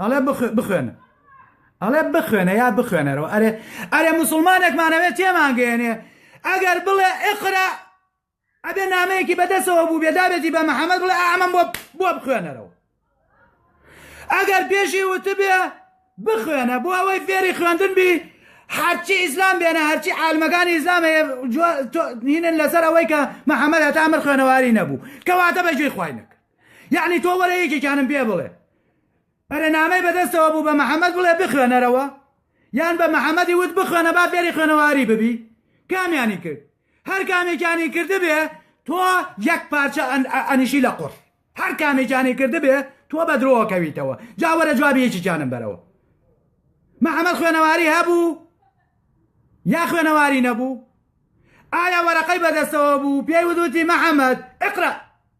[SPEAKER 1] ئەڵێ بخوێنە ئەڵێ بخوێنە یا بخوێنەرەوە ئەرێ ئەرێ مسلمانێکمانەوێت تێمانگەێنێ ئەگەر بڵێ ئقرا ئەبێ نامەیەکی بەدەسەوە بوو بێدابێتی بە محەممەد بڵێ ئامەم بۆ بۆ بخوێنەرەوە ئەگەر پێشی وتبێ بخوێنە بۆ ئەوەی فێری خوێندن بی هەرچی ئیسلام بێنە هەرچی عالمەکانی ئیسلامە هینن لەسەر ئەوەی کە محەممەد هەتا ئەمر خوێنەواری نەبوو کەواتە بەگوێی خوینەکە یەعنی تۆ وەرە یەکێکیانم پێ بڵێ بەرەنامەی بەدەستەوە بوو بە محەممەد بڵێ بخوێنەرەوە یان بە محەممەدی وت بخوێنە با فێری خوێنەواری ببی کامیانی کرد هەر کامێکیانی کردبێ تۆ یەک پارچە ئەنیشی لە قڕ هەر کامێکیانی کردبێ تۆ بە درۆوە کەویتەوە جاوەرە جوابی یەکیانم بەرەوە محەممەد خوێنەواری هەبوو یا خوێنەواری نەبوو ئایا وەرەقەی بەدەستەوە بوو پێی ودوتی محەممەد اقرا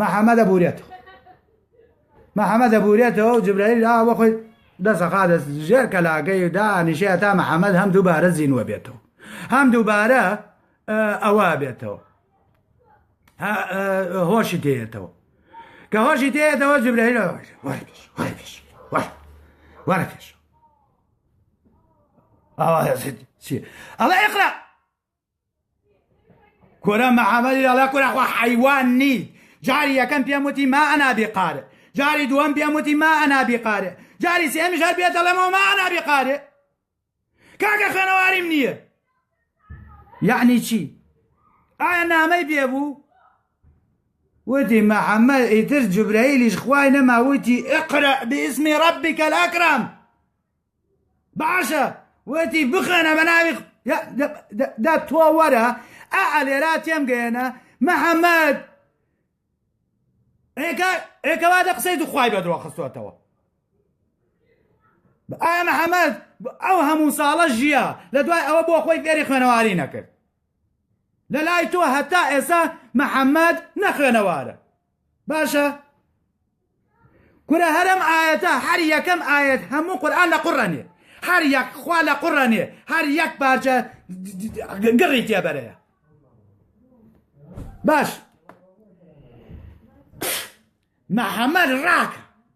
[SPEAKER 1] محەمە دەبورێتەوە محەمە دەبورێتەوە و جبرائیل ئا بە خۆی دەسەقا دەست ژێر کەلاگەی دا نیشەیە تا محەممەد هەم دووبارە زینوە بێتەوە هەم دووبارە ئەوە بێتەوە هۆشی تێتەوە کە هۆشی تێتەوە جبرائیل وەرە پێش ئەوە ئەڵە ئەقرا کورە محەمەدی دەڵێ کورە خۆ حەیوان نیت جاری یەکەم پێم وتی ما ئەنا بیقارێ جاری دووەم پێم وتی ما ئەنا بیقارێ جاری سێمیش هەر پێ دەڵێمەوە ما ئەنا بیقارێ کاکە خوێنەواریم نییە یعنی چی ئایا نامەی پێ بوو وتی محەممەد ئیتر جوبرەیلیش خوای نەماوتی ئقرە بئسمی ڕبی کەلاکرام باشە وتی بخوێنە بە ناوی دە تۆ وەرە ئا ئەلێرا تێم گەێنە محەممەد ئێکەوا دە قسەی دوخوای بە درۆخستوەتەوە ئایا محەممەد ئەو هەموو ساڵە ژیە لە دوای ئەوە بۆ خۆی فێری خوێنەواری نەکرد لە لای تۆ هەتا ئێسا محەممەد نەخوێنەوارە باشە کورە هەرم ئاەتە هەر یەکەم ئاەت هەموو قورآن لە قڕەنێ هەر یەک خوا لە قڕەنێ هەر یەک پارچە گڕی تێبەرەیە باش محەممەد ڕاکە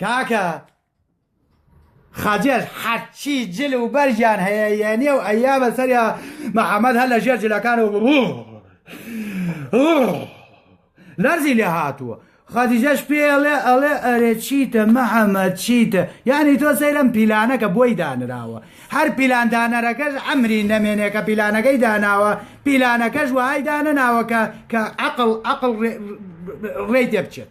[SPEAKER 1] کاکە خەجل حەچی جل و بەرگیان هەیە یەنیە و ئەیا بەسەریا محەممەد هەر لە ژێر جلەکان و لەرزی لێ هاتووە خەدیجەش پێڵێ ئەڵێ ئەرێ چیتە محەممەد چیتە یعنی تۆ سەیرم پیلانەکە بۆی دانراوە هەر پیلاندانەرەکەش ئەمری نەمێنێ کە پیلانەکەی داناوە پیلانەکەش وهای دانەناوەکە کە عقل عقل ڕێ تێ بچێت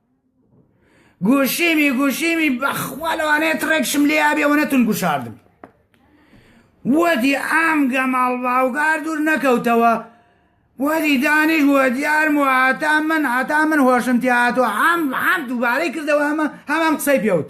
[SPEAKER 1] گوشیمی گوشیمی بەخوا لەوانەیە تڕێکشم لێ ئابێ و نەتون گوشاردم وەدی ئام گەماڵ باوگار دوور نەکەوتەوە وەدی دانیش وە دیارم و هاتا من هاتا من هۆشم تیاهاتوە ئام ئام دووبارەی کردەوە ئەمە هەمان قسەی پێوت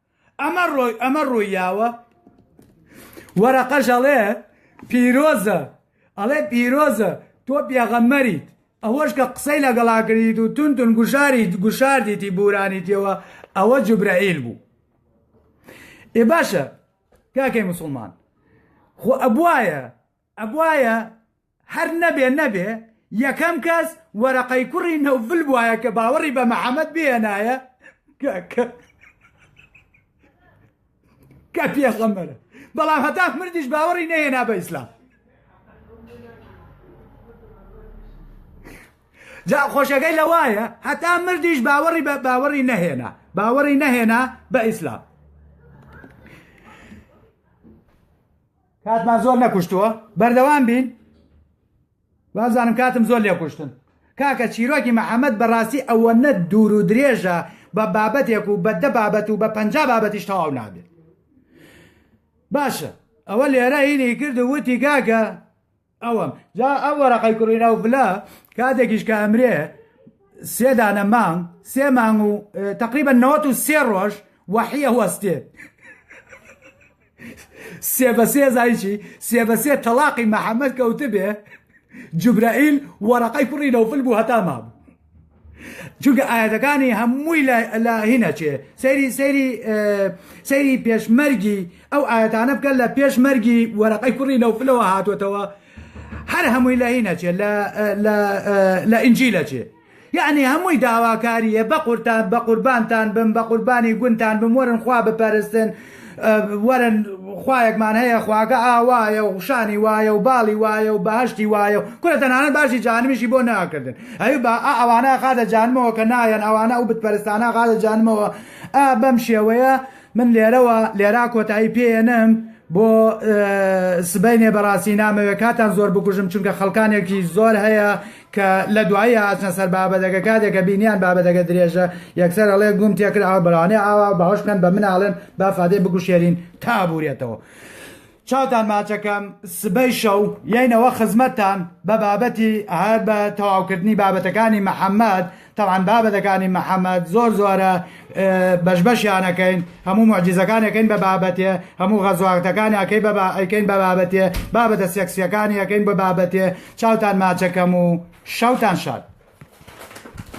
[SPEAKER 1] ئەمە ڕۆی ئەمە ڕوویاوە وەرەقەش ئەڵێ پیرۆزە ئەڵێ پیرۆزە تۆ پێغەمەریت ئەوەش کە قسەی لەگەڵاکردیت و تون تون گوشاری گوشاردیتی بورانیتەوە ئەوە جوبرەئیل بوو ئێ باشە کاکەی مسلمان خۆ ئەبواە ئەبوایە هەر نەبێ نەبێ یەکەم کەس وەرەقەی کوڕی نەوفل بوایە کە باوەڕی بە محەممەد بێنایە کە پێخەمەرە بەڵام هەتا مردیش باوەڕی نەهێنا بە ئیسلام جا خۆشەکەی لە وایە هەتا مردیش باوەڕی بە باوەڕی نەهێنا باوەڕی نەهێنا بە ئیسلام کاتمان زۆر نەکوشتووە بەردەوام بین وازانم کاتم زۆر لێ کوشتن کاکە چیرۆکی محەممەد بەڕاستی ئەوە نە دوور و درێژە بە بابەتێک و بەدە بابەت و بە پ بابەتیش تەواو نابێت باشە ئەوە لێرە هینی کرد و وتی گاگە ئەوەم جا ئەو وەرەقەی کوڕینە و بلە کاتێکیش کە ئەمرێ سێدانە مانگ سێ مانگ و تقریبا نەوەت و سێ ڕۆژ وەحیە وەستێ سێ بە سێ زایچی سێ بە سێ تەلاقی محەممەد کەوتبێ جوبرائیل وەرەقەی کوڕی نەوفل بوو هەتا مابوو چونکە ئاەتەکانی هەمووی لە هینەچێ سەیری سەیری سەیری پێشمەرگی ئەو ئاەتانە بکەن لە پێشمەرگی وەرەقەی کوڕی نەوفلەوە هاتوتەوە هەر هەمووی لە هینەچێ لە ئینجی لەچێ یعنی هەمووی داواکاریە بە قورتان بە قوربانتان بم بە قوربانی گونتان بم وەرن خوا بپەرستن وەرن خوایەکمان هەیە خواکە ئاوایە و شانی وایە و باڵی وایە و باشتی وایە و کورە تەنانەت باشی جانمیشی بۆ ناکردن ئەوی با ئەوانە خاتە جانمەوە کە نایەن ئەوانە ئەو بتپەرستانە خاتە جانمەوە ئا بەم شێوەیە من لێرەوە لێرا کۆتایی پێێنم بۆ سبینێ بەڕاستی نامەوێت کاتان زۆر بکوژم چونکە خەڵکانێکی زۆر هەیە کە لە دوایی هاتنە سەر بابەتەکە کاتێ کە بینیان بابەتەکە درێژە یەکسەر ئەڵێ گووم تێکرد ئاو بەرانێ ئاوا باوەش بکەن بە من ئاڵێن با فادەی بگوشێرین تا ئەبورێتەوە چاوتان ماچەکەم سبەی شەو یەینەوە خزمەتتان بە بابەتی هەر بە تەواوکردنی بابەتەکانی محەممەد تەبعەن بابەتەکانی محمد زۆر زۆرە بەش بەشیان ئەکەین هەموو معجزەکان ئەکەین بە بابەتێ هەموو غەزواتەکانی ئەکەی بە ئەیکەین بە بابەتێ بابەتە سێکسیەکانی ئەەکەین بە بابەتێ چاوتان ماچەکەم و شەوتان شاد